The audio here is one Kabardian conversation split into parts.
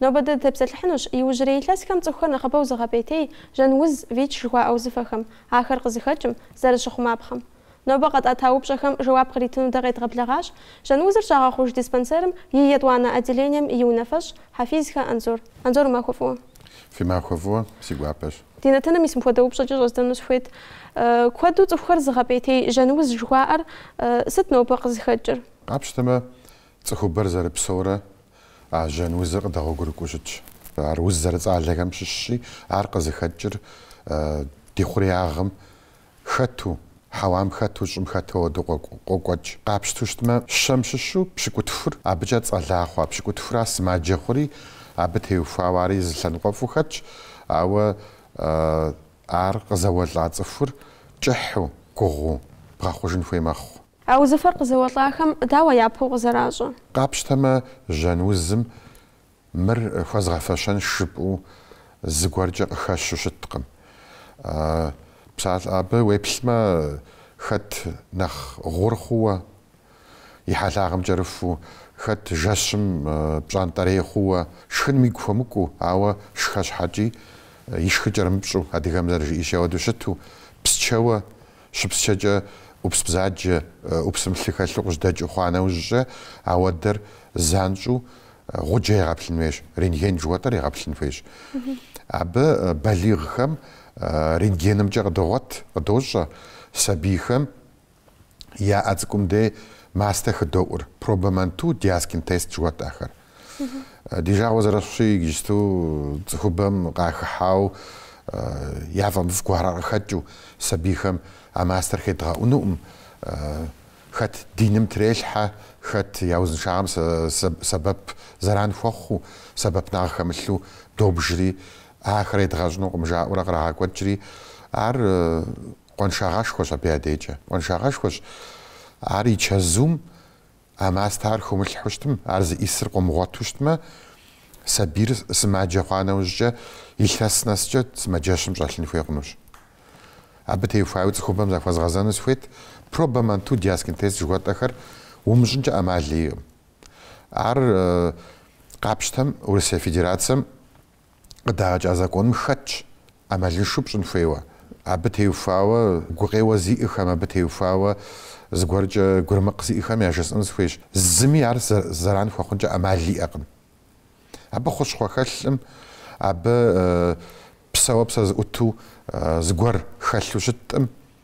Нобэ дэ дытепсэлъыхьынущ иужьрей илъэсхэм цӏыхухэр нэхъыбэу зыгъэпӏейтей жьэн уз, ВИЧ жыхуаӏэ узыфэхэм, ахэр къызыхэкӏым, зэрыщыхъумапхъэм. Нобэ къэтӏата упщӏэхэм жэуап къритыну дэ къедгъэблэгъащ жьэн узыр щагъэхъуж диспансерым и етӏуанэ отделением и унафэщӏ Хьэфизхэ Анзор. Анзор, уи махуэ фӏыуэ. Фи махуэ фӏыуэ си гуапэщ. Ди нэтыным мис мыпхуэдэ упщӏэкӏэ щӏэздзэну сыхуейт. Куэду цӏыхухэр зыгъэпӏейтей жьэн уз жыхуаӏэр сыт нобэ къызыхэкӏыр? Къапщтэмэ, Цӏыхубэр зэрыпсэурэ а жьэн узыр къыдэгъуэгурыкӏыу щытщ. Ар уз зэрыцӏалэхэм щыщщи, ар къызыхэкӏыр ди хъуреягъым хэту, хьэуам хэту, щӏым хэту ауэдэу къокӏуэкӏ. Къапщту щытмэ, щэм щыщу пщыкӏутхур абыкӏэ цӏэла хъуа пщыкӏутхура сымаджэ хъури, абы теухуауэ ари зы лъэныкъуэфӏу хэтщ, ауэ ар къызэуэлӏа цӏыхур кӏыхьу, гугъуу бгъэхъужын хуей мэхъу. А узыфэр къызэуэлӏахэм дауэ япэу къызэращӏэ? Къапщтэмэ, жьэн узым мыр хуэзгъэфэщэнш жыпӏэу зыгуэркӏэ къыхэщу щыткъым. Псалъэ абы, уеплъмэ, хэт нэхъ гъур хъууэ, и хьэлъагъым кӏэрыхуу, хэт жэщым пщӏантӏэрей хъууэ, шхыным игу хуэмыкӏуу, ауэ шхэ щхьэкӏи, ишхыр кӏэрымыпщӏу, адыгэм зэрыжиӏэщи ауэдэу щыту, псчэуэ, Щыпсчэкӏэ ӏупс бзаджэ, ӏупсым лъы хэлъу къыжьэдэкӏыу хъуа нэужькӏэ, ауэдэр занщӏу гъуджэ егъэплъын хуейщ, рентген жыхуэтӏэр егъэплъын хуейщ. Абы балигъхэм рентгенымкӏэ къыдогъуэт, къыдощӏэ, сабийхэм я ӏэ цӏыкӏум дей мастэ хыдоӏур, проба Манту диаскин тест жыхуэтӏахэр. Ди жагъуэ зэрыхъущи, иджысту цӏыхубэм къахыхьауэ яфӏэмыфӏ гуэрхэр къыхэкӏыу сабийхэм а мастэр хедгъэӏунукъым. Хэт диным трелъхьэ, хэт я узыншагъэм сэбэп зэран хуэхъуу, сэбэпынагъ хэмылъу добжри, ахэр едгъэщӏынукъым жаӏэурэ кърагъэкӏуэкӏри, ар къуаншагъэшхуэщ абы я декӏэ. Къуаншагъэшхуэщ ар и чэзум А мастэ ар хыумылъхьэу щытым, ар зыӏисыр къыумыгъуэту щытмэ, сабийр сымаджэ хъуа нэужькӏэ, илъэс нэскӏэ сымаджэщым щӏэлъын хуей хъунущ. Абы теухуауэ цӏыхубэм захуэзгъэзэну сыхуейт, проба Манту диаскин тест жыхуэтӏэхэр умыщӏынкӏэ ӏэмал иӏэкъым. Ар къапщтэм Урысей Федерацэм. къыдагъэкӏа законым хэтщ ӏэмалыншэу пщӏын хуейуэ, абы теухуауэ гукъеуэ зиӏэхэм, абы теухуауэ зыгуэркӏэ гурымыкъ зиӏэхэм яжесӏэн сыхуейщ, зыми ар зэран хуэхъункӏэ ӏэмал иӏэкъым. Абы хущхъуэ хэлъым, абы псэууэ псэ зыӏуту зыгуэр хэлъу щыткъым,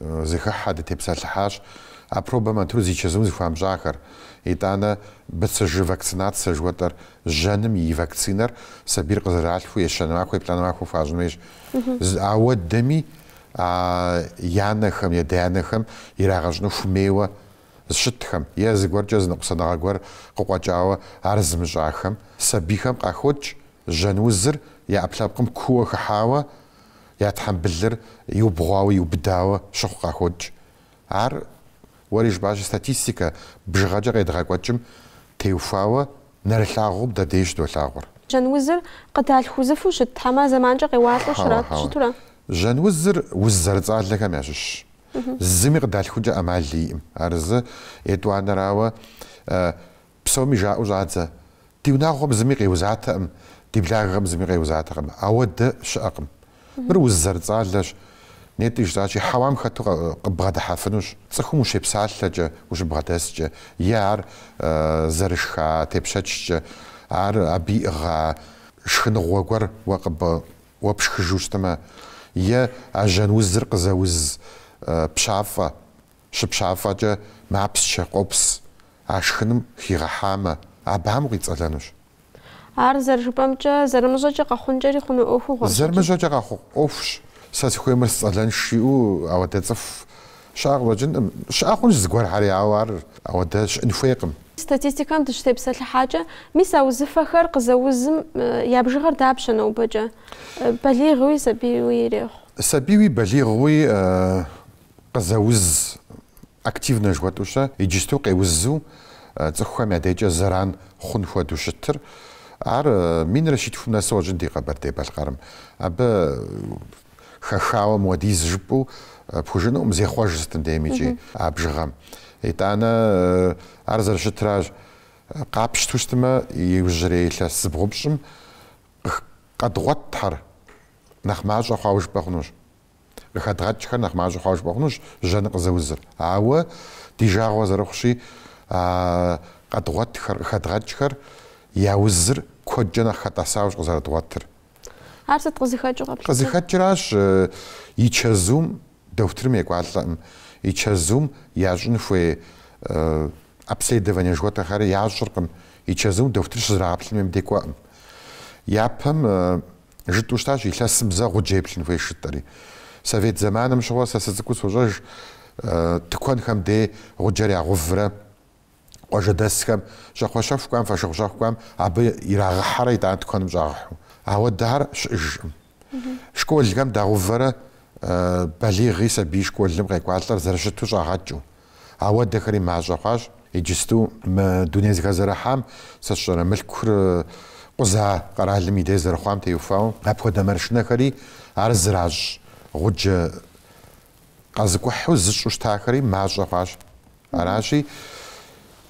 Зыхыхьэ дытепсэлъыхьащ а пробэ Мантур зи чэзум зыхуамыщӏахэр. Итӏанэ БЦЖ вакцинацэ жыхуэтӏэр жьэным и вакцинэр сабийр къызэралъхуу ещанэ махуэ, еплӏанэ махуэ хуащӏын хуейщ. Ауэдэми а я анэхэм, я адэ-анэхэм ирагъэщӏыну хуэмейуэ зыщытхэм е зыгуэркӏэ зы ныкъусаныгъэ гуэр къыкъуэкӏауэ ар зымыщӏахэм сабийхэм къахокӏ жьэн узыр я ӏэпкълъэпкъым кууэ хыхьауэ Я тхьэмбылыр иубгъуауэ, иубыдауэ щыхъу къахокӏ. Ар, уэри жыпӏащи, статистикэ бжыгъэкӏэ къедгъэкӏуэкӏым теухуауэ нэрылъагъуу дэ деж щыдолъагъур. Жьэнузыр къыдалъху узыфэу щыт хьэмэ зэманкӏэ къеуалӏэу Хьэуэ, щрат, хьэуэ. щыту ара? Жьэнузыр уз зэрыцӏалэхэм ящыщщ. Зыми къыдалъхункӏэ ӏэмал иӏым. Ар зы. Етӏуанэрауэ, Псоми жаӏэу щӏадзэ, Ди унагъуэм зыми къеузатэкъым, ди благъэм зыми къеузатэкъым, ауэдэ щыӏэкъым. Мыр уз зэрыцӏалэщ. Нетӏэ жысӏащи, хьэуам хэту къыббгъэдыхьэфынущ, цӏыхум ущепсалъэкӏэ, ущыбгъэдэскӏэ, е ар зэрышха тепщэчкӏэ, ар абы иӏыгъа шхыныгъуэ гуэр уэ къыб... уэ пшхыжу щытмэ, е а жьэн узыр къызэуз пщафӏэ. щыпщафӏэкӏэ мапсчэ къопс, а шхыным хигъэхьамэ, абам къицӏэлэнущ. Ар зэрыжыпӏэмкӏэ, зэрымыщӏэкӏэ къэхъункӏэри хъуну ӏуэхугъуэщ. Зэрымыщӏэкӏэ къэхъу ӏуэхущ, сэ сыхуейуэ мыр сцӏэлэнщ жиӏэу ауэдэ цӏыху щыӏэ къыщӏэкӏынкъым. Щыӏэ хъунщ зыгуэрхэри, ауэ ар ауэдэ щыӏын хуейкъым. Статистикэм дыщытепсэлъыхьакӏэ, мис а узыфэхэр къызэузым я бжыгъэр дапщэ нобэкӏэ? Балигъуи, сабийуи ирехъу. Сабийуи балигъуи Къызэуз активнэ жыхуэтӏэу щэ, иджысту къеузу цӏыхухэм я дежкӏэ зэран хъун хуэдэу щытыр. Ар минрэ щитхум нэсу къыщӏэкӏын ди Къэбэрдей-Балъкъэрым. Абы хэхауэ мыуэдиз жыпӏэу пхужыӏэнукъым, зехъуэж сытым деймикӏи а бжыгъэм. Итӏанэ ар зэрыщытращ, къапщту щытмэ, иужьрей илъэс зыбгъупщӏым къых... къэдгъуэтхэр нэхъ мащӏэ хъуауэ жыпӏэ хъунущ. Къыхэдгъэкӏхэр нэхъ мащӏэ хъуауэ жыпӏэ хъунущ жьэныр къызэузыр. Ауэ ди жагъуэ зэрыхъущи, а къэдгъуэтхэр, къыхэдгъэкӏхэр я узыр куэдкӏэ нэхъ хэтӏэсауэщ къызэрыдгъуэтыр. Ар сыт къызыхэкӏыу къэплъытэр? Къызыхэкӏыращ и чэзум, дохутырым екӏуалӏэкъым, и чэзум ящӏын хуей обследование жыхуэтӏэхэри ящӏыркъым, и чэзум дохутыр щызрагъэплъын хуейм деж кӏуэкъым. Япэм. Жытӏу щытащ илъэсым зэ гъуджэ еплъын хуейщ жытӏэри. Совет зэманым щыгъуэ сэ сыцӏыкӏуу сощӏэж, тыкуэнхэм дей гъуджэр ягъуврэ, къуажэдэсхэм, щӏакхъуэщэху кӏуам, фошыгъущэху кӏуам абы ирагъыхьэрэ итӏанэ тыкуэным щӏагъыхьу. Ауэдэр щыӏэжкъым. Школхэм дагъувэрэ балигъи сабий школым къекӏуалӏэр зэрыщыту щӏагъэкӏыу. Ауэдэхэри мащӏэ хъуащ. Иджысту мы дуней зыхэзэрыхьам сэ сщӏэрэ мылъкур къуза къэралым и дей зэрыхъуам теухуауэ, апхуэдэ маршынэхэри ар зыращӏ гъуджэ къэзыкӏухьу зыщӏу щытахэри мащӏэ хъуащ. Аращи,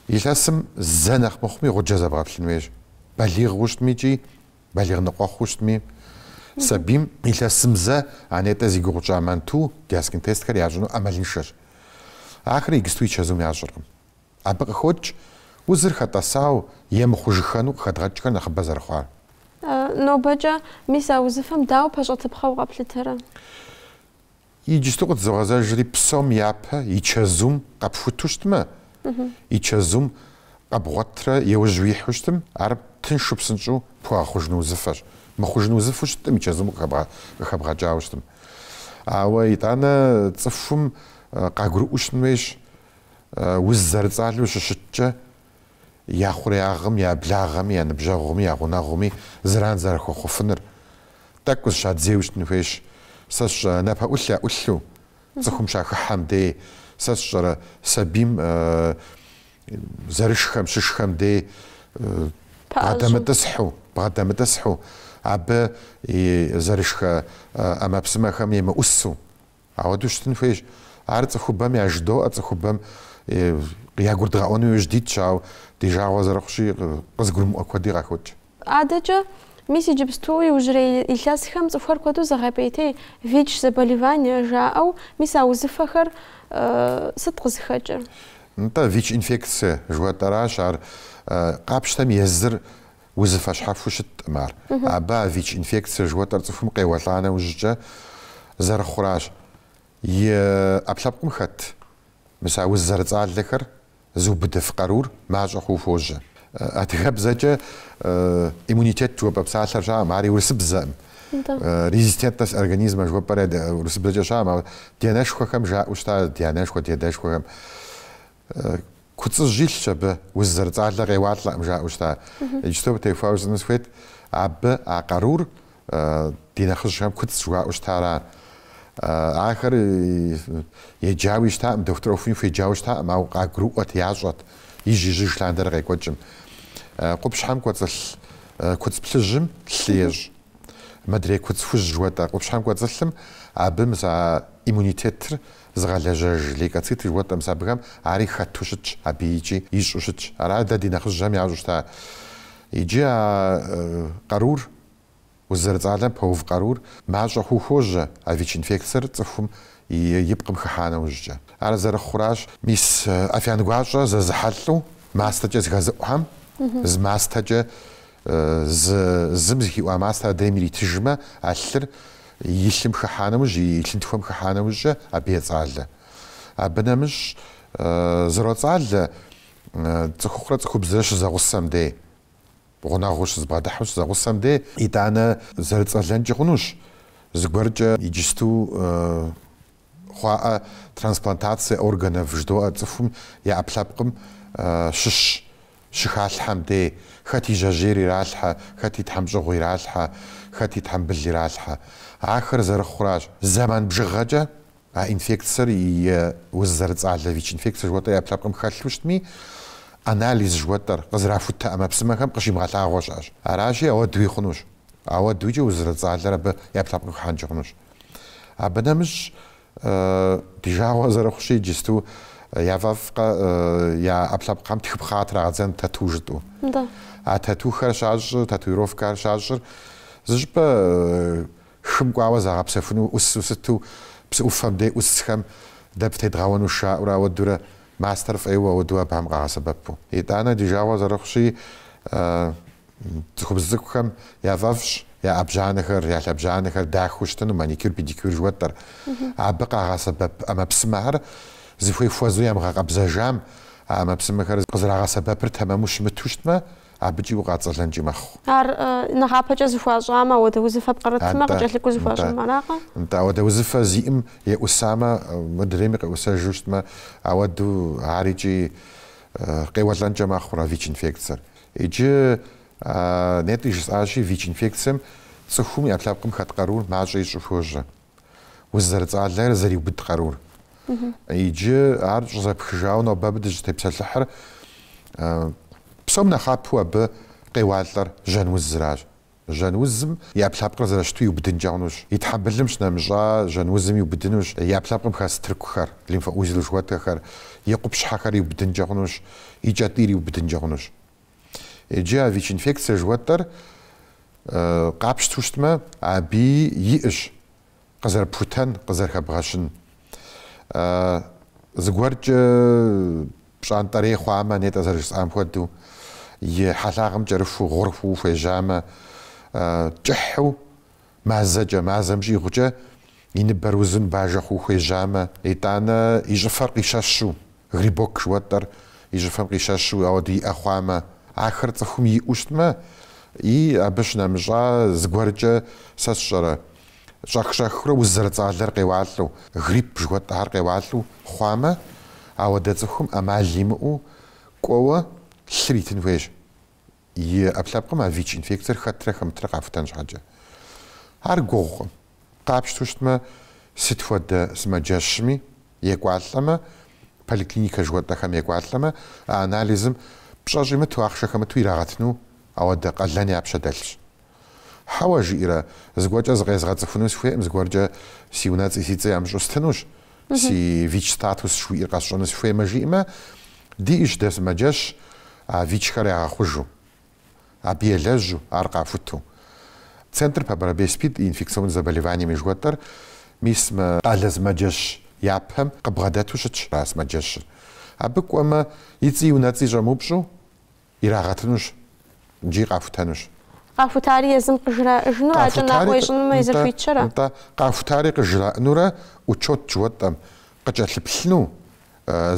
илъэсым зэ нэхъ мыхъуми гъуджэ зэбгъэплъын хуейщ. Балигъу щытми икӏи Балигъ ныкъуэхъуу щытми, сабийм илъэсым зэ а нетӏэ зи гугъу тщӏа манту, диаскин тестхэр ящӏыну ӏэмалыншэщ. Ахэр иджысту и чэзум ящӏыркъым. Абы къыхокӏ узыр хэтӏэсау е мыхъужыххэну къыхэдгъэкӏхэр нэхъыбэ зэрыхъуар. Нобэкӏэ, мис а узыфэм дауэ пэщӏэтыпхъэу къэплъытэрэ? Иджысту къытызогъэзэжри псом япэ и чэзум къэпхуту щытмэ, и чэзум къэбгъуэтрэ еужь уихьу щытым, ар тыншу псынщӏу пхуэгъэхъужыну узыфэщ. Мыхъужыну узыфу щыттым, и чэзум къыхэбгъэкӏауэ щытым. Ауэ итӏанэ цӏыхум къагурыӏуэу щытын хуейщ, уз зэрыцӏалэу щыщыткӏэ, я хъуреягъым, я благъэми, я ныбжьэгъуми, я гъунэгъуми зэран зэрыхуэхъуфыныр. Тӏэкӏу зыщадзейуэ щытын хуейщ. Сэ сщӏэрэ, напэӏулъ яӏулъу, цӏыхум щахыхьэм дей, сэ сщӏэрэ, сабийм зэрышхэм, щышхэм дей бгъэдэмытӏысхьу, бгъэдэмытӏысхьу, абы и зэрышхэ ӏэмэпсымэхэм емыӏусу, Ауэдэу щытын хуейщ. Ар цӏыхубэм яжыдоӏэ, цӏыхубэм ягурыдгъэӏуэну иужь дитщ, ауэ ди жагъуэ зэрыхъущи, къызгурымыӏуэ куэди къахокӏ. Адэкӏэ, мис иджыпсту иужьрей илъэсхэм цӏыхухэр куэду зыгъэпӏейтей, ВИЧ заболевание жаӏэу, мис а узыфэхэр сыт къызыхэкӏыр? Нтӏэ, ВИЧ инфекцие жыхуэтӏэращ ар. Къапщтэм езыр Узыфэ щхьэхуэу щыттӏым ар. Абы а ВИЧ-инфекцие жыхуэтӏэр цӏыхум къеуэлӏа нэужькӏэ зэрыхъуращ. И ӏэпкълъэпкъым хэт мис а уз зэрыцӏалэхэр зыубыдыф къарур мащӏэ хъууэ хуожьэ. Адыгэбзэкӏэ иммунитет жыхуэпӏэ псалъэр щаӏым, ари урысыбзэӏым. Резистентность организма жыхуэпӏэр урысыбзэкӏэ щаӏым, ди анэшхуэхэм жаӏэу щыта, ди анэшхуэ, ди адэшхуэхэм. Куцӏыжь илъщ абы, уз зэрыцӏалэ къеуалӏэкъым жаӏэу щыта. Иджыпсту абы техуауэ зытӏыну сыхуейт, абы а къарур ди нэхъыжьхэм куцӏ жыхуаӏэу щыта ара. Ахэр еджауи щытакъым, дохутыр ӏуэхуни хуеджауэ щытакъым, ауэ къагурыӏуэт, ящӏэт, ижь-ижьыж лъандэрэ къекӏуэкӏым. Къупщхьэм кӏуэцӏылъ куцӏ плъыжьым лъы ещӏ. Модрей куцӏ хужь жыхуэтӏэ къупщхьэм кӏуэцӏылъым абы мыс а иммунитетыр Зыгъэлэжьэж лейкоциты жыхуэтӏэ мыс абыхэм, ари хэту щытщ абы икӏи ищӏу щытщ. Аращ дэ ди нэхъыжьхэм ящӏу щыта. Иджы а къарур, уз зэрыцӏалэм пэув къарур, мащӏэ хъуу хуожьэ а ВИЧ-инфекциер цӏыхум и пкъым хыхьа нэужькӏэ. Ар зэрыхъуращ мис афиян гуащӏэ зэзыхьэлӏэу мастэкӏэ зыхэзыӏухэм, зы мастэкӏэ. Зы зым зыхиӏуа мастэр адрейм иритыжмэ, а лъыр и лъым хыхьа нэужь, и лъынтхуэм хыхьа нэужькӏэ абы ецӏалэ. Абы нэмыщӏ зэроцӏалэ цӏыхухъурэ цӏыхубзрэ щызэгъусэм дей, гъунэгъуу щызбгъэдыхьу щызэгъусэм дей. Итӏанэ зэрыцӏэлэнкӏи хъунущ, зыгуэркӏэ иджысту хъуаӏэ трансплантацие органов жыдоӏэ цӏыхум я ӏэпкълъэпкъым щыщ щыхалъхьэм дей, хэт и жьэжьейр иралъхьэ, хэт и тхьэмщӏыгъу иралъхьэ, хэт и тхьэмбыл иралъхьэ. Ахэр зэрыхъуращ. Зэман бжыгъэкӏэ а инфекциер и уз зэрыцӏалэ ВИЧ-инфекцие жыхуэтӏэр я ӏэпкълъэпкъым хэлъу щытми, анализ жыхуэтӏэр къызэрахутэ ӏэмэпсымэхэм къыщимыгъэлъагъуэ щыӏэщ. Аращи, ауэдуи хъунущ. Ауэдуикӏэ уз зэрыцӏалэр абы я ӏэплъэпкъ хыхьэнкӏэ хъунущ. Абы нэмыщӏ, ди жагъуэ зэрыхъущи, иджысту яфӏэфӏкъэ я ӏэплъэпкъхэм тхыпхъэ трагъэдзэн тату жытӏэу. А татухэр щащӏыр, татуировкэр щащӏыр зы щӏыпӏэ хым кӏуауэ загъэпсэхуну ӏусу сыту псы ӏуфэм дей ӏусхэм дэ птедгъэуэну жаӏэурэ ауэдурэ мастэр фӏейуэ ауэду абыхэм къагъэсэбэпу. Итӏанэ ди жагъуэ зэрыхъущи, Цӏыхубз цӏыкӏухэм яфӏэфӏщ я ӏэбжьанэхэр, я лъэбжьанэхэр дахэу щытыну, маникюр, педикюр жыхуэтӏэр. Абы къагъэсэбэп ӏэмэпсымэхэр зыхуей хуэзэу ямыгъэкъэбзэжам, а ӏэмэпсымэхэр къызэрагъэсэбэпыр тэмэму щымыту щытмэ, абыкӏи укъацӏэлэнкӏи мэхъу. Ар нэхъапэкӏэ зыхуащӏамэ, ауэдэ узыфэ пкърытмэ, къыкӏэлъыкӏуэу зыхуащӏам аракъэ? Нтӏэ, ауэдэ узыфэ зиӏым еӏусамэ, мыдрейми къеӏусэжу щытмэ, ауэду ар икӏи къеуэлӏэнкӏэ мэхъур а ВИЧ-инфекциер. Иджы нетӏи жысӏащи, ВИЧ-инфекцием цӏыхум и ӏэпкълъэпкъым хэт къарур мащӏэ ищӏу хуожьэ уз зэрыцӏалэр зэриубыд къарур. Иджы ар щӏызэпхыжауэ нобэ абы дыщытепсэлъыхьыр псом нэхъапэу абы къеуалӏэр жьэн узыращ. Жьэнузым и ӏэпкълъэпкъыр зэрыщыту иубыдынкӏэ хъунущ. И тхьэмбылым щынэмыщӏа жьэнузым иубыдынущ и ӏэпкълъэпкъым хэс тыркухэр, лимфоузел жыхуэтӏэхэр, и къупщхьэхэр иубыдынкӏэ хъунущ, и кӏэтӏийр иубыдынкӏэ хъунущ. Иджы а ВИЧ-инфекцие жыхуэтӏэр къапщту щытмэ, аби иӏэщ къызэрыпхутэн, къызэрыхэбгъэщын. Зыгуэркӏэ пщӏантӏэрей хъуамэ, нетӏэ зэрыжысӏам хуэдэу, и хьэлъагъым кӏэрыхуу, гъур хъуу хуежьамэ, кӏыхьу, мазэкӏэ, мазэм щӏигъукӏэ и ныбэр узу, ныбажэ хъуу хуежьамэ, итӏанэ и щӏыфэр къищэщу, грибок жыхуэтӏэр и щӏыфэм къищэщу ауэду иӏэ хъуамэ, ахэр цӏыхум иӏэу щытмэ, и абы щынэмыщӏа зыгуэркӏэ сэ сщӏэрэ, щӏэх-щӏэхыурэ уз зэрыцӏалэр къеуалӏэу, грипп жыхуэтӏэхэр къеуалӏэу хъуамэ, ауэдэ цӏыхум ӏэмал имыӏэу кӏуэуэ лъыр итын хуейщ, и ӏэпкълъэпкъым а ВИЧ-инфекциер хэтрэ хэмытрэ къахутэн щхьэкӏэ. Ар гугъукъым, къапщтэу щытмэ, сыт хуэдэ сымаджэщми екӏуалӏэмэ, поликлиникэ жыхуэтӏэхэм екӏуалӏэмэ, а анализым пщӏэ щӏимыту, ахъшэ хэмыту ирагъэтыну ауэдэ къалэн я пщэ дэлъщ. Хьэуэ, жиӏэрэ, зыгуэркӏэ зыкъезгъэцӏыхуну сыхуейкъым, зыгуэркӏэ си унэцӏи си цӏи ямыщӏу стынущ, си ВИЧ-статус жыхуиӏэр къэсщӏэну сыхуеймэ жиӏэмэ, диӏэщ дэ сымаджэщ а ВИЧ-хэр ягъэхъужу, абы елэжьу, ар къахуту. Центр по борьбе с СПИД и инфекционными заболеваниями жыхуэтӏэр мис мы къалэ сымаджэщ япэм къыбгъэдэту щытщ а сымаджэщыр. Абы кӏуэмэ, и цӏи и унэцӏи щӏэмыупщӏу, Ирагъэтынущ икӏи къахутэнущ. Къахутари езым къыжраӏыжынур а кӏэнакъуэ ищӏынумэ езыр хуитщэрэ? Нтӏэ, къахутари къыжраӏынурэ учет жыхуэтӏэм къыкӏэлъыплъыну,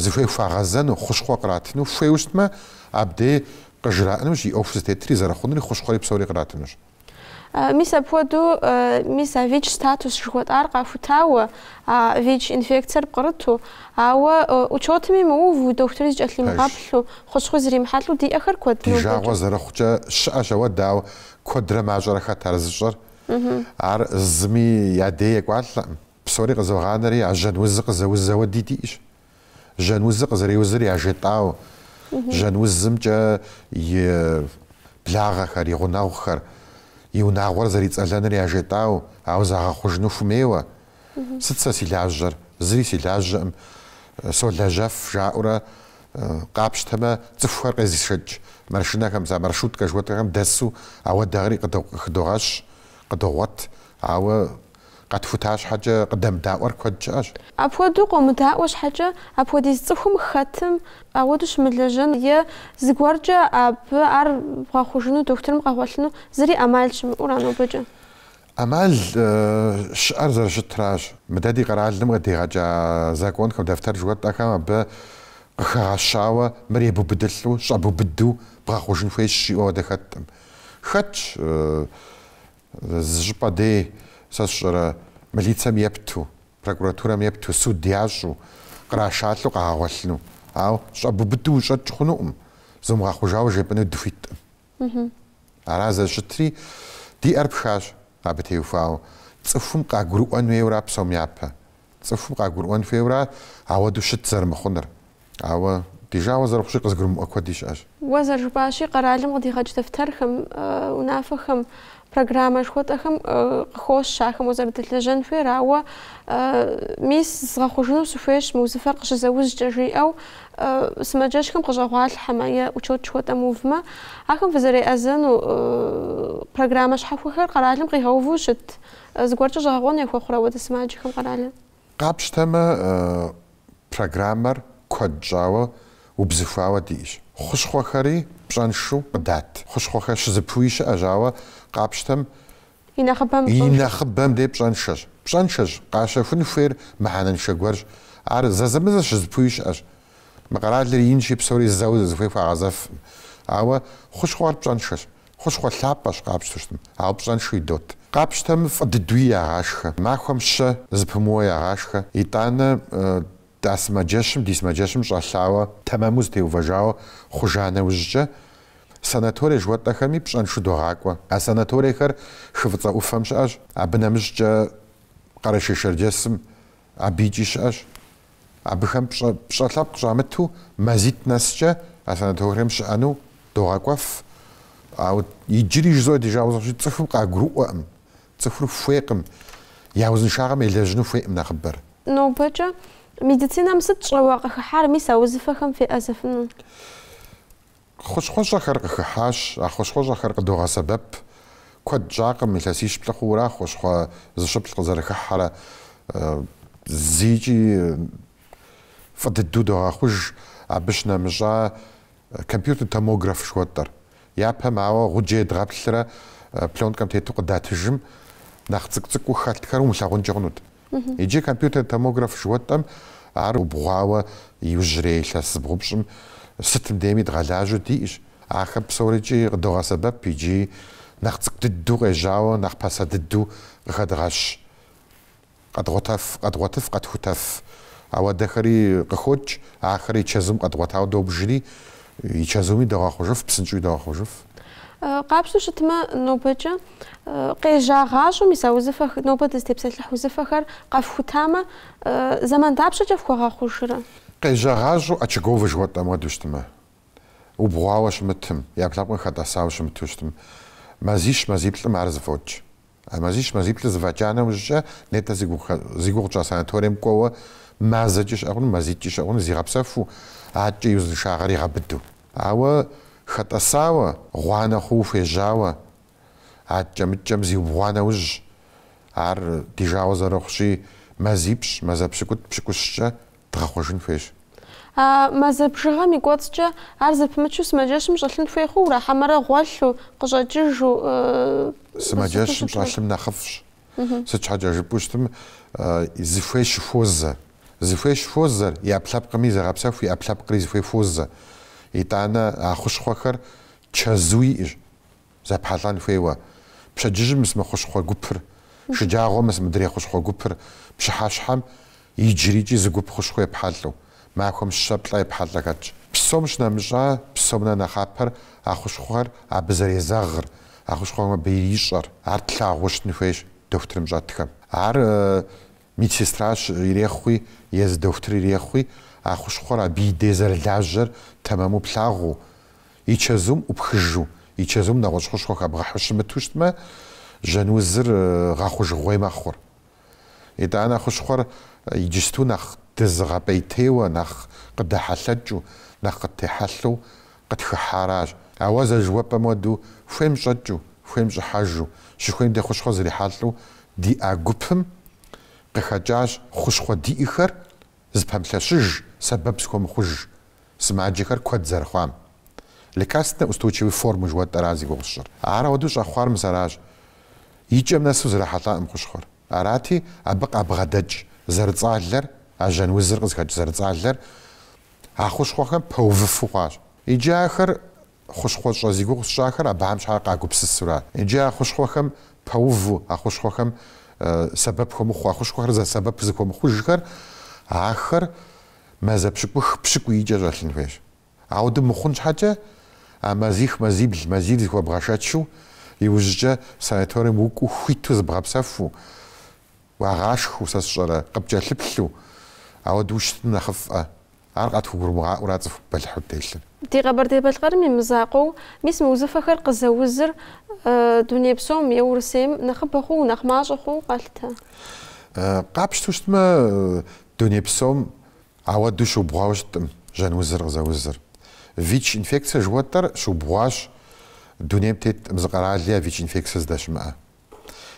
зыхуей хуагъэзэну, хущхъуэ къратыну хуейуэ щытмэ, абдей къыжраӏынущ и ӏуэху зытетри зэрыхъунури, хущхъуэри псори къратынущ. Мис апхуэдэу, мис а ВИЧ статус жыхуэтӏар къахутауэ, а ВИЧ инфекциер пкърыту, ауэ учетми мыуву, дохутырри зыкӏэлъимыгъэплъу, хущхъуи зримыхьэлӏэу диӏэхэр куэд, ди жагъуэ зэрыхъукӏэ, щыӏэщ ауэ, дауэ, куэдрэ мащӏэрэ хэт ар зыщӏэр? Ар зыми я дей екӏуалӏэкъым. Псори къызогъанэри, а жьэн узыр къызэуз ауэди диӏэщ. Жьэн узыр къызэреузыр яжетӏау, жьэн узымкӏэ и благъэхэр, и гъунэгъухэр, и унагъуэр зэрицӏэлэныр яжетӏау, ауэ загъэхъужыну хумейуэ. Сыт сэ си лажьэр? Зыри си лажьэкъым, солэжьэф, жаӏэурэ къапщтэмэ, цӏыхухэр къезышэкӏ машинэхэм, а маршруткэ жыхуэтӏэхэм дэсу ауэдэхэри къыхыдогъэщ, къыдогъуэт, ауэ Къэтхута щхьэкӏэ къыдэмыдаӏуэр куэд щыӏэщ. Апхуэдэу къомыдаӏуэ щхьэкӏэ, апхуэдиз цӏыхум хэтым ауэду щымылэжьэн е зыгуэркӏэ абы ар бгъэхъужыну, дохутырым къэгъуэлъыну зыри ӏэмал щымыӏэуэра нобэкӏэ? ӏэмал щыӏэр зэрыщытращ. Мыдэ ди къэралым къыдигъэкӏа законхэм, дэфтэр жыхуэтӏэхэм абы къыхэгъэщауэ мыр ебубыдылӏу, щӏэбубыду бгъэхъужын хуейщ жиӏэу ауэдэ хэткъым. Хэтщ Зы щӏыпӏэ дей, сэ сщӏэрэ, милицэм епту, прокуратурэм епту, суд ящӏу, кърашалӏэу къагъэгъуэлъыну. Ауэ щӏэбубыду ущӏэкӏ хъунукъым, зумыгъэхъужауэ жепӏэну дыхуиткъым. Ара зэрыщытри, ди ӏэр пхащ абы теухуауэ. Цӏыхум къагурыӏуэн хуейуэра псом япэ? Цӏыхум къагурыӏуэн хуейуэра ауэдэу щыт зэрымыхъунур? Ауэ ди жагъуэ зэрыхъущи къызгурымыӏуэ куэди щыӏэщ. Уэ зэрыжыпӏащи, къэралым къыдигъэкӏ дэфтэрхэм, унафэхэм, программэ жыхуэтӏэхэм къыхощ ахэм уэ зэрыдэлэжьэн хуейр, ауэ мис згъэхъужыну сыхуейщ мы узыфэр къыщызэужькӏэ, жиӏэу сымаджэщхэм къыщӏэгъуалъхьэмэ е учет жыхуэтӏэм увмэ, ахэм фызэреӏэзэну программэ щхьэхуэхэр къэралым къигъэуву щыт зыгуэркӏэ щӏэгъэкъуэн яхуэхъурэ ауэдэ сымаджэхэм къэралым? Къапщтэмэ, программэр куэд щӏауэ убзыхуауэ диӏэщ. Хущхъуэхэри пщӏэншэу къыдат. Хущхъуэхэр щызыпуи щыӏэщ, ауэ къапщтэм и нэхъыбэм дей пщӏэншэщ. Пщӏэншэщ, къащэхун хуейр мыхьэнэншэ гуэрщ. Ар зэзэмызэ щызыпуи щыӏэщ. Мы къэралыр инщи, псори зэуэ зыхуей хуагъэзэфкъым. Ауэ хущхъуэр пщӏэншэщ. Хущхъуэ лъапӏэщ къапщтэу щытым, ауэ пщӏэншэу идот. Къапщтэм фӏы дыдуи ягъашхэ, махуэм щэ зыпымыуэ ягъашхэ. Итӏанэ дэ сымаджэщым, ди сымаджэщым щӏэлъауэ, тэмэму зытеувэжауэ хъужа нэужькӏэ, санаторие жыхуэтӏэхэми пщӏэншэу догъакӏуэ. А санаториехэр хы фӏыцӏэ ӏуфэм щыӏэщ, абы нэмыщӏкӏэ Къэрэшей-Шэрджэсым абыкӏи щыӏэщ. Абыхэм пщӏэ лъэпкъ щӏамыту мазитӏ нэскӏэ а санаторием щыӏэну догъэкӏуэф, ауэ иджыри жызоӏэ ди жагъуэ зэрыхъущи цӏыхум къагурыӏуэкъым, цӏыхур хуейкъым, я узыншагъэм елэжьыну хуейкъым нэхъыбэр. Нобэкӏэ медицинэм сыт щӏэуэ къыхыхьар мис а узыфэхэм феӏэзэфыну? Хущхъуэщӏэхэр къыхыхьащ, а хущхъуэщӏэхэр къыдогъэсэбэп. Куэд щӏакъым илъэсищ плӏы хъууэра хущхъуэ зыщыплӏ къызэрыхыхьэрэ. Зыйкӏи фӏы дыдэу догъэхъуж абы щынэмыщӏа компьютер томограф жыхуэтӏэр. Япэм, ауэ, гъуджэ едгъэплърэ пленкэм тету къыдатыжым, нэхъ цӏыкӏу-цӏыкӏуу хэлъхэр умылъагъункӏэ хъунут. Иджы компьютер томограф жыхуэтӏэм ар убгъуауэ иужьрей илъэс зыбгъупщӏым сытым дейми дгъэлажьэу диӏэщ. Ахэм псорикӏи къыдогъэсэбэп иджы нэхъ цӏыкӏу дыдэу къежьауэ нэхъ пасэ дыдэу къыхэдгъэщ. Къэдгъуэтэф, къэдгъуэтыф, къэтхутэф ауэдэхэри къыхокӏ, ахэри и чэзум къэдгъуэтауэ добжри, И чэзуми догъэхъужыф, псынщӏэуи догъэхъужыф. Къапщтэу щытмэ, нобэкӏэ къежьагъащӏэу мис а узыфэ, нобэ дызытепсэлъыхь узыфэхэр къэфхутамэ, зэман дапщэкӏэ фхуэгъэхъужрэ? Къежьагъащӏэу очаговэ жыхуэтӏэм хуэдэу щытмэ, убгъуауэ щымытым, ӏэпкълъэпкъым хэтӏэсауэ щымыту щытым, мазищ-мазиплӏым ар зэфӏокӏ. А мазищ мазиплӏыр зэфӏэкӏа нэужькӏэ, нетӏэ зи гугъу тщӏа санаторием кӏуэуэ мазэкӏи щыӏэ хъуну, мазитӏкӏи щыӏэ хъуну зигъэпсэфу, аткӏэ и узыншагъэр игъэбыду. Ауэ хэтӏэсауэ, гъуанэ хъууэ хуежьауэ, аткӏэ-мыткӏэм зиубгъуа нэужь, ар ди жагъуэ зэрыхъущи, мазипщӏ, мазэ пщыкӏутӏ пщыкӏущкӏэ дгъэхъужын хуейщ. А мазэ бжыгъэм и кӏуэцӏкӏэ ар зэпымычу сымаджэщым щӏэлъын хуей хъууэ ара, хьэмэрэ гъуэлъу, къыщӏэкӏыжу? Сымаджэщым щӏэлъым нэхъыфӏщ. Сыт щхьэкӏэ жыпӏэу щытым, зыхуей щыхуозэ. Зыхуей щыхуозэри, ӏэпкълъэпкъми зегъэпсэху, и ӏэпкълъэпкъри зыхуей хуозэ. Итӏанэ а хущхъуэхэр чэзу иӏэщ. Зэпхьэлӏэн хуейуэ, пщэдджыжьым мыс мы хущхъуэ гупыр, шыджагъуэм мыс мыдрей хущхъуэ гупыр, пщыхьэщхьэм иджырикӏи зы гуп хущхъуэ епхьэлӏэу, махуэм щэ-плӏэ епхьэлӏэ хэтщ. Псом щынэмыщӏа, псом нэ нэхъапэр а хущхъуэхэр абы зэрезэгъыр, а хущхъуэхэм абы ирищӏэр, ар тлъагъуу щытын хуейщ дохутырым щӏэтхэм. Ар Медсестращ ирехъуи, езы дохутыр ирехъуи, а хущхъуэр абы и дей зэрылажьэр тэмэму плъагъуу, и чэзум ӏупхыжу, и чэзум нэгъуэщӏ хущхъуэ хэбгъэхьу щымыту щытмэ, жьэн узыр гъэхъужыгъуей мэхъур. Итӏанэ хущхъуэр иджысту нэхъ дызыгъэпӏейтейуэ, нэхъ къыдэхьэлъэкӏыу, нэхъ къыттехьэлъэу къытхыхьаращ. Ауэ зэрыжыхуэпӏэм хуэдэу хуейм щӏэкӏыу, хуейм щӏыхьэжу, щыхуейм дей хущхъуэ зрихьэлӏэу диӏа гупым къыхэкӏащ хущхъуэ диӏэхэр зыпэмылъэщыж сэбэп зыхуэмыхъуж сымаджэхэр куэд зэрыхъуам. Лекарственнэ устойчивой формы жыхуэтӏэра зи гугъу сщӏыр. Ар ауэдэу щӏэхъуар мис аращ, и кӏэм нэсу зрахьэлӏакъым хущхъуэр. Арати, абы къабгъэдэкӏ зэрыцӏалэр, а жьэн узыр къызыхэкӏ зэрыцӏалэр, А хущхъуэхэм пэувыфу хъуащ. Иджы ахэр, хущхъуэщӏэ зи гугъу сщӏахэр, абыхэм щхьэ къагупсысура? Иджы а хущхъуэхэм пэуву, а хущхъуэхэм сэбэп хуэмыхъуу, а хущхъуэхэр зэ сэбэп зыхуэмыхъужхэр, ахэр мазэ пщыкӏух-пщыкӏуийкӏэ щӏэлъын хуейщ. Ауэдэу мыхъун щхьэкӏэ, а мазих мазибл, мазийр зыхуэбгъэшэчу, иужькӏэ санаторием укӏуэу хуиту зыбгъэпсэфу, Уагъашхэу, сэ сщӏэрэ, къыпкӏэлъыплъу, ауэдэу ущытым нэхъыфӏ-ӏэ? Ар къатхугурымыгъаӏуэра цӏыху бэлыхьу телъыр? Ди Къэбэрдей-Балъкъэрым и мызакъуэу, мис мы узыфэхэр къызэузыр дуней псом е Урысейм нэхъыбэ хъууэ, нэхъ мащӏэ хъууэ къалъытэ? Къапщтэу щытмэ, дуней псом ауэдэу щыубгъуауэ щыткъым жьэнузыр къызэузыр. ВИЧ-инфекцэ жыхуэтӏэр щыубгъуащ дунейм теткъым зы къэрали а ВИЧ-инфекцэ здэщымыӏэ.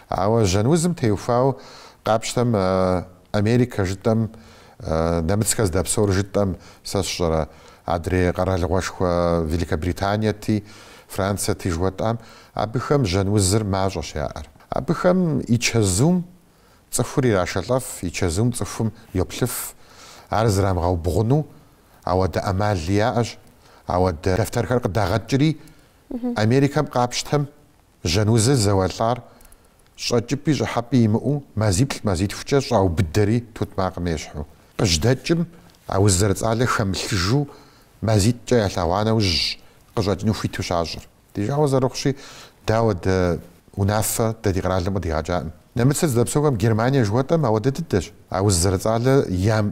Ауэ жьэнузым теухуауэ къапщтэм Америкэ жытӏэм, нэмыцхэр здэпсэур жытӏэм, сэ сщӏэрэ, адрей къэралыгъуэшхуэ Великобританиети, Франциети жыхуэтӏам, абыхэм жьэнузыр мащӏэщ яӏэр. Абыхэм и чэзум цӏыхур ирашэлӏэф, и чэзум цӏыхум йоплъыф, ар зрамыгъэубгъуну ауэдэ ӏэмали яӏэщ, ауэдэ дэфтэрхэр къыдагъэкӏри, Америкэм къапщтэм Жьэнузыр зэуэлӏар щӏэкӏыпӏи щӏыхьэпӏи имыӏэу, мазиплӏ-мазитхукӏэ щӏаубыдэри тутмакъым ещхьу. Къыжьдэкӏым, а уз зэрыцӏалэ хэмылъыжу, мазитӏкӏэ ялъэгъуа нэужьщ къыщӏэкӏыну хуиту щащӏыр. Ди жагъуэ зэрыхъущи, дэ ауэдэ унафэ дэ ди къэралым къыдигъэкӏакъым. Нэмыцыр здэпсэухэм Германие жыхуэтӏэм ауэдэ дыдэщ, а уз зэрыцӏалэр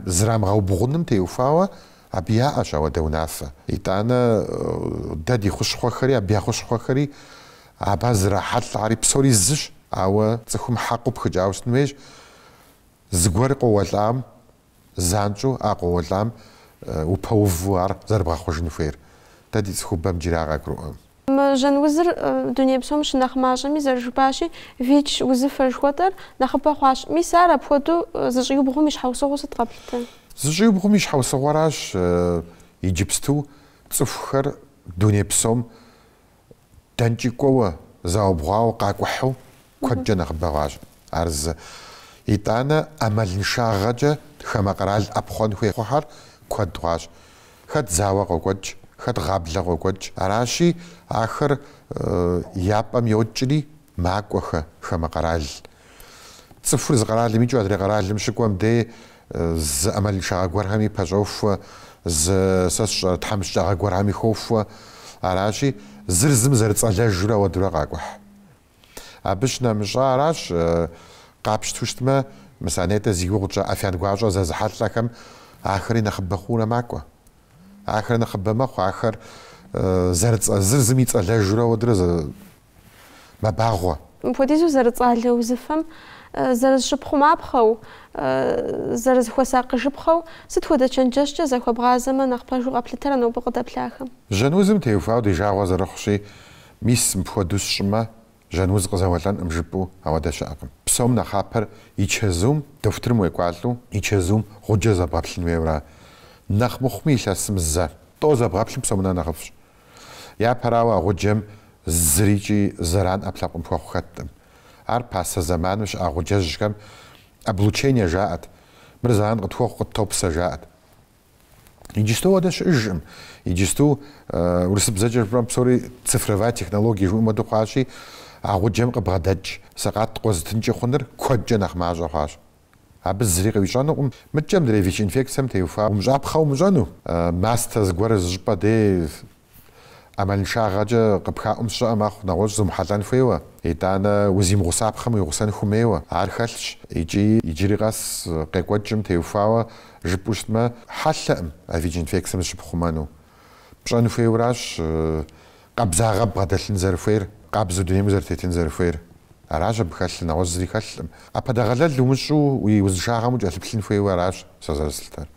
зрамыгъэубгъуным теухуауэ, Абы яӏэщ ауэдэ унафэ. Итӏанэ дэ ди хущхъуэхэри, абы я хущхъуэхэри абы зрахьэлӏари псори зыщ. Ауэ цӏыхум хьэкъыу пхыкӏауэ щытын хуейщ, зыгуэр къоуэлӏам, занщӏэу а къоуэлӏам упэуву ар зэрыбгъэхъужын хуейр. Дэ ди цӏыхубэм иджыри ар къагурыӏуэм. Мы жьэн узыр дуней псом щынэхъ мащӏэми зэрыжыпӏащи, ВИЧ узыфэ жыхуэтӏэр нэхъыбэ хъуащ. Мис ар апхуэдэу зыщӏиубгъум и щхьэусыгъуэу сыт къэплъытэ? Зыщӏиубгъум и щхьэусыгъуэращ иджыпсту цӏыхухэр дуней псом дэнкӏи кӏуэуэ, заубгъуауэ къакӏухьу куэдкӏэ нэхъыбэ хъуащ, ар зы. Итӏанэ ӏэмалыншагъэкӏэ хамэ къэрал ӏэпхъуэн хуей хъухьэр куэд хъуащ. Хэт зауэ къокӏуэкӏ, хэт гъаблэ къокӏуэкӏ. Аращи, ахэр я пӏэм йокӏри, макӏуэхэ хамэ къэрал. Цӏыхур зы къэралым икӏыу адрей къэралым щыкӏуэм дей зы ӏэмалыншагъэ гуэрхэми пэщӏохуэ, зы, сэ сщӏэрэ, тхьэмыщкӏагъэ гуэрхэми хохуэ. Аращи, зыр зым зэрыцӏэлэжурэ ауэдурэ къакӏухь. Абы щынэмыщӏа аращ, къапщту щытмэ, мис а нетӏэ зи гугъу тщӏа ӏэфян гуащӏэ зэзыхьэлӏэхэм ахэри нэхъыбэ хъуурэ макӏуэ. Ахэр нэхъыбэ мэхъу, ахэр зэрыцӏэ зыр зым ицӏэлэжурэ ауэдурэ мэбагъуэ. Мыпхуэдизу зэрыцӏалэ узыфэм зэрызыщыпхъумапхъэу, зэрызыхуэсакъыжыпхъэу сыт хуэдэ чэнджэщкӏэ захуэбгъазэмэ нэхъ пэжу къэплъытэрэ нобэ къыдэплъахэм? Жьэнузым теухуауэ ди жагъуэ зэрыхъущи, Мис, мыпхуэдэу сщӏымэ, жьэн уз къызэуэлӏэнкъым жыпӏэу ауэдэ щыӏэкъым. Псом нэхъапэр и чэзум, дохутырым уекӏуалӏэу, и чэзум гъуджэ зэбгъэплъын хуейуэра. Нэхъ мыхъуми илъэсым зэ. Тӏо зэбгъэплъым псом нэ нэхъыфӏщ. Япэрауэ, а гъуджэм зырикӏи зэран ӏэпкълъэпкъым хуэхъу хэткъым. Ар пасэ зэманым щыӏа гъуджэжьхэм облучение жаӏэт, мыр зэран къытхуэхъу къыттопсэ жаӏэт. Иджысту ауэдэ щыӏэжкъым. Иджысту урысыбзэкӏэ жыпӏэм псори цифровая технология жыхуаӏэм хуэдэу хъуащи, а гъуджэм къыбгъэдэкӏ сэкъат къозытынкӏэ хъуныр куэдкӏэ нэхъ мащӏэ хъуащ. Абы зыри къыуищӏэнукъым, мыдэкӏэ мыдрей ВИЧ-инфекцием теухуа умыщӏапхъэ умыщӏэну, мастэ зыгуэр зыщӏыпӏэ дей, ӏэмалыншагъэкӏэ къыпхаӏум щыӏэ мэхъу нэгъуэщӏ зумыхьэлӏэн хуейуэ, итӏанэ узимыгъусапхъэм уигъусэн хумейуэ, ар хэлъщ икӏи иджыри къэс къекӏуэкӏым теухуауэ жыпӏэу щытмэ, хьэлъэкъым а ВИЧ-инфекцием зыщыпхъумэну. Пщӏэн хуейуэращ къабзагъэ бгъэдэлъын зэрыхуейр, къабзэу дунейм узэрытетын зэрыхуейр. Аращ абы хэлъыр, нэгъуэщӏ зыри хэлъкъым. ӏэпэдэгъэлэл умыщӏу уи узыншагъэм укӏэлъыплъын хуейуэ аращ сэ зэрыслъытэр.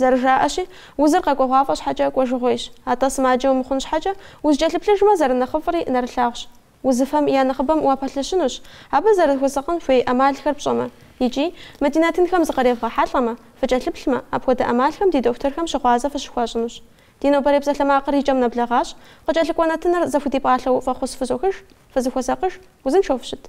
Зэрыжаӏэщи, узыр къэкӏуэгъуафӏэ щхьэкӏэ кӏуэжыгъуейщ. Атӏэ сымаджэ умыхъун щхьэкӏэ, узыкӏэлъыплъыжмэ, зэрынэхъыфӏри нэрылъагъущ. Узыфэм я нэхъыбэм уапэлъыщынущ, абы зэрыхуэсакъын хуей ӏэмалхэр пщӏэмэ. Икӏи, мы ди нэтынхэм зыкъревгъэхьэлӏэмэ, фыкӏэлъыплъмэ, апхуэдэ ӏэмалхэм ди дохутырхэм щыгъуазэ фыщыхуащӏынущ. Ди нобэрей псалъэмакъыр и кӏэм нэблэгъащ, къыкӏэлъыкӏуэ нэтыныр зэхудипӏалъэу фӏэхъус фызохыж, фызыхуэсакъыж, узыншэу фыщыт.